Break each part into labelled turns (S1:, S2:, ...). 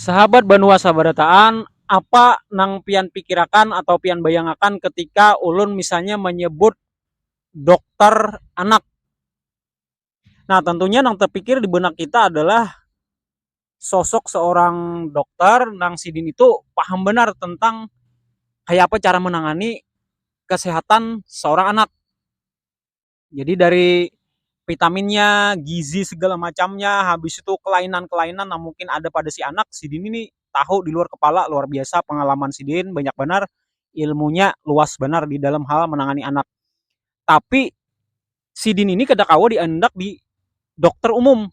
S1: Sahabat banua sabarataan, apa nang pian pikirakan atau pian bayangakan ketika ulun misalnya manyebut dokter anak. Nah, tentunya yang terpikir di benak kita adalah sosok seorang dokter nang sidin itu paham benar tentang kayak apa cara menangani kesehatan seorang anak. Jadi dari vitaminnya, gizi segala macamnya, habis itu kelainan-kelainan yang mungkin ada pada si anak, sidin ini tahu di luar kepala luar biasa pengalaman sidin banyak benar ilmunya luas benar di dalam hal menangani anak. Tapi sidin ini kada kawa diandak di dokter umum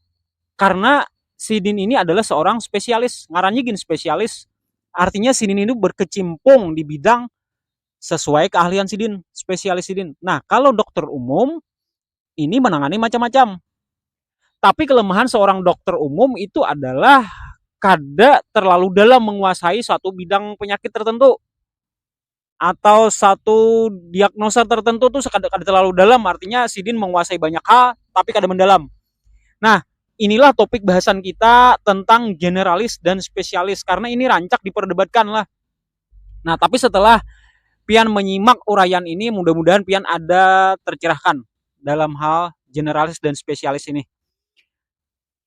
S1: karna sidin ini adalah seorang spesialis ngarannya gin spesialis artinya sidin ini berkecimpung di bidang sesuai keahlian sidin spesialis sidin nah kalau dokter umum ini menangani macam-macam tapi kelemahan seorang dokter umum itu adalah kada terlalu dalam menguasai suatu bidang penyakit tertentu atau satu diagnosa tertentu tuh kada, kada terlalu dalam artinya sidin menguasai banyak hal tapi kada mendalam nah inilah topik bahasan kita tentang generalis dan spesialis karena ini rancak diperdebatkan lah nah tapi setelah pian menyimak uraian ini mudah-mudahan pian ada tercerahkan dalam hal generalis dan spesialis ini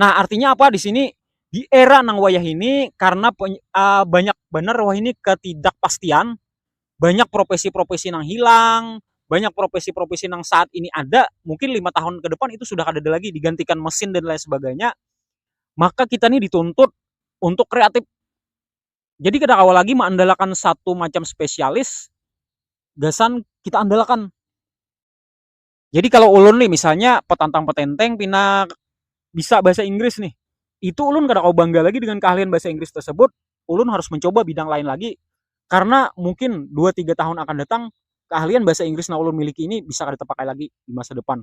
S1: Nah, artinya apa di sini? Di era nang wayah ini karena banyak banar wahini ketidakpastian, banyak profesi-profesi nang hilang, banyak profesi-profesi nang saat ini ada, mungkin lima tahun ke depan itu sudah kadada lagi, digantikan mesin dan lain sebagainya, maka kita ni dituntut untuk kreatif. Jadi kada kawa lagi maandalakan satu macam spesialis gasan kita andalakan. Jadi kalau ulun nih misalnya petantang petenteng pina bisa bahasa Inggris nih, itu ulun kada kawa bangga lagi dengan keahlian bahasa Inggris tersebut, ulun harus mencoba bidang lain lagi karena mungkin dua tiga tahun akan datang keahlian bahasa Inggris nang ulun miliki ini bisa kada tepakai lagi di masa depan.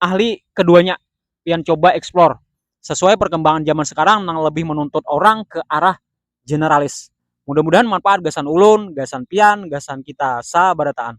S1: ahli keduanya pian coba explore sesuai perkembangan zaman sekarang nang lebih menuntut orang ke arah generalis. Mudah-mudahan manfaat gasan ulun, gasan pian, gasan kita sabarataan.